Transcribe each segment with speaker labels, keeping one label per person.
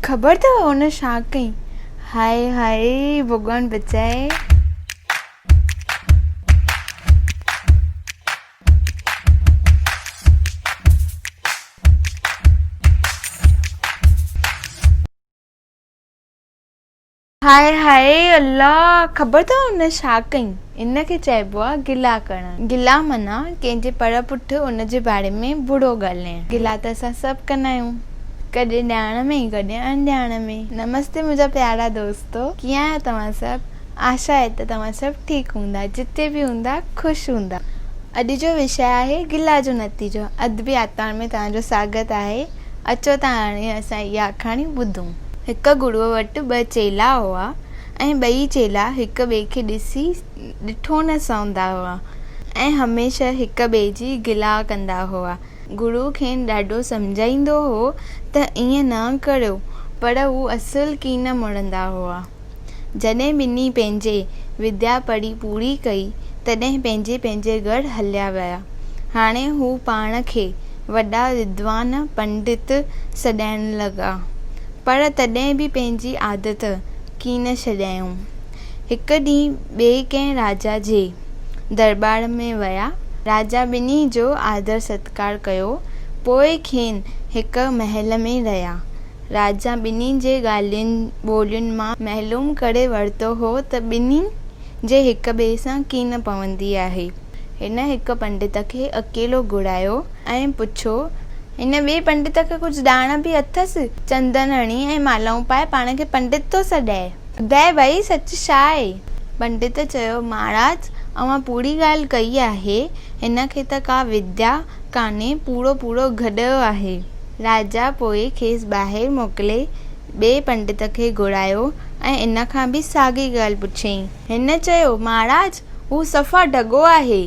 Speaker 1: خبر اٿو هن ڇا ڪيائين؟ هاء هاء ڀڳوان بچائي. هاء هاء الله خبر اٿئو ان ڇا ڪيائين ان کي چئبو آهي گلا ڪرڻ گلا معنيٰ ڪنهن جي پڙ پٺ ان جي باري ۾ برو ڳالهائڻ گلا ته اسان سڀ ڪندا آهيون ڪڏهن ڏياڻ ۾ ۽ ڪڏهن اڻ ڏياڻ ۾ نمستي منهنجا پيارا دوستو ڪيئن آهيو توهان سڀ آشا آهي ته توهان سڀ ٺيڪ هوندا جتي به هوندا خوش هوندا اڄ جو وشيه آهي گلا جو نتيجو ادبي آتمار ۾ توهان جو سواگت آهي. اچو ته هاڻي اسان اها آکاڻي ٻڌون. هڪ گروء وٽ ٻه چيلا هئا ۽ ٻئي چيلا هڪ ٻئي کي ڏسي ڏٺو نه سهندا هئا ۽ هميشه هڪ ٻئي جي گلا ڪندا هئا. گرو کين ڏاڍو سمجهائيندو هو ته ائين نه ڪريو پر هو اصل ڪين مڙندا هئا. جڏهن ٻنهي پنهنجي وديا پڙهي پوري ڪئي، تڏهن پنهنجي پنهنجي ڳڙهه هليا ويا. هاڻي هو پاڻ کي وڏا ودوان، پنڊت، سڏائڻ لڳا، پر تڏهن به پنهنجي عادت ڪي نه ڇڏيائون. هڪ ڏينهن ٻئي ڪنهن راجا جي درٻار ۾ ويا. راجا ٻنهي جو آڌر ستڪار ڪيو، پوء کين هڪ محل ۾ رهيا. راجا ٻنهي جي ڳالهين ٻولين مان معلوم ڪري ورتو هو ته ٻنهي جي هڪ ٻئي سان ڪي نه پوندي آهي. هن هڪ پنڊت کي اڪيلو گهرايو ۽ پڇيو. هن ٻئي پنڊت کي ڪجهه ڏاڻ به اٿس؟ چندن هڻي ۽ مالائون پائي پاڻ کي پنڊت ٿو سڏائي. ٻڌاء ڀئي سچ ڇا آهي؟ پنڊت چيو، مهاراج اوهان پوري ڳالهه ڪئي آهي. هن کي ته ڪا وديا ڪانهي، پورو پورو گڏهه آهي. راجا پوء کيس ٻاهر موڪلي ٻئي پنڊت کي گهرايو ۽ ان کان به ساڳي ڳالهه پڇيائين. هن چيو، مهاراج، هو صفا ڍڳو آهي.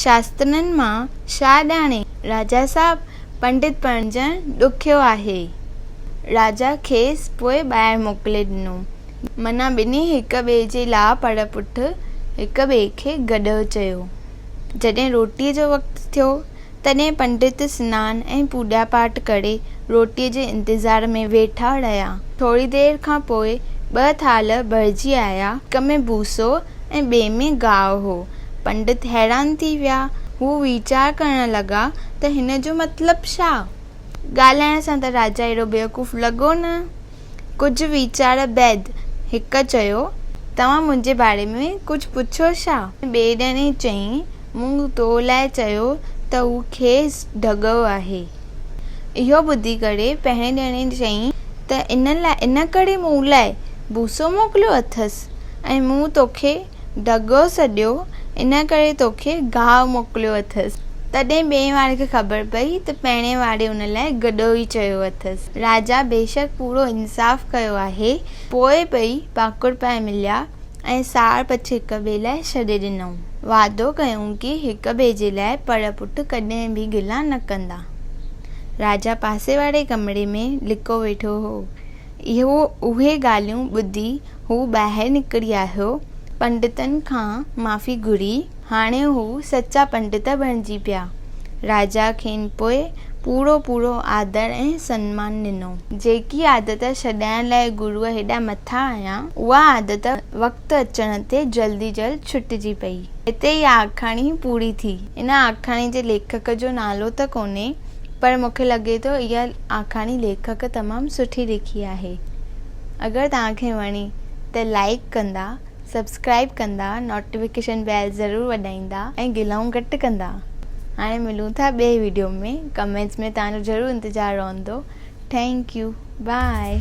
Speaker 1: شاسترن مان ڇا ڄاڻي راجا صاحب، پنڊت بڻجڻ ڏکيو آهي. راجا کيس پوء ٻاهر موڪلي ڏنو. معنيٰ ٻنهي هڪ ٻئي جي لاء پڙ پٺ هڪ ٻئي کي گڏهه چيو. جڏهن روٽيء جو وقت ٿيو تڏهن پنڊت سنان ۽ پوڄا پاٺ ڪري روٽيء جي انتظار ۾ ويٺا رهيا. ٿوري دير کان پوء ٻه ٿالهه ڀرجي آيا. هڪ ۾ ڀوسو ۽ ٻئي ۾ گاهه هو. پنڊت حيران ٿي ويا. هو ويچار ڪرڻ لڳا ته هن جو مطلب ڇا؟ ڳالهائڻ سان ته راجا اهڙو بيوقوف لڳو نه. ڪجهه ويچار بعد هڪ چيو، توهان منهنجي باري ۾ ڪجهه پڇيو ڇا؟ ٻئي ڄڻي چيائين، مون تو لاء چيو ته هو کيس ڍڳو آهي. اهو ٻڌي ڪري پهرين ڄڻي چيائين ته ان ڪري مون لاء بوسو موڪليو اٿس ۽ مون توکي ڍڳو سڏيو، ان ڪري توکي گاهه موڪليو اٿس. تڏهن ٻئي واري کي خبر پئي ته پهرئين واري ان لاء گڏهو ئي چيو اٿس. راجا بيشڪ پورو انصاف ڪيو آهي. پوء ٻئي ڀاڪر پائي مليا ۽ ساڙ پڇ هڪ ٻئي لاء ڇڏي ڏنائون. وعدو ڪيائون ڪي هڪ ٻئي جي لاء پڙ پٽ ڪڏهن به گلا نه ڪندا. راجا پاسي واري ڪمري ۾ لڪو ويٺو هو. اهو اهي ڳالهيون ٻڌي هو ٻاهر نڪري آيو، پنڊتن کان معافي گهري، هاڻي هو سچا پنڊت بڻجي پيا. راجا کين پوء پورو پورو آدر ۽ سنمان ڏنو. جيڪي عادت ڇڏائڻ لاء گرو هيڏا مٿا آيا، اها عادت وقت اچڻ تي جلدي جلد ڇٽجي پئي. هتي اها آکاڻي پوري ٿي. ان آکاڻي جي ليکڪ جو نالو ته ڪونهي، پر مون کي لڳي ٿو اها آکاڻي ليکڪ تمام سٺي لکي آهي اگر توهان کي وڻي ته لائيڪ ڪندا سبسڪرائيب ڪندا نوٽيفڪيشن بيل ضرور وڄائيندا ۽ گلائون گهٽ ڪندا هاڻي ملون ٿا ٻئي ويڊيو ۾ ڪمينٽس ۾ توهان جو ضرور انتظار رهندو ٿينڪ يو بائي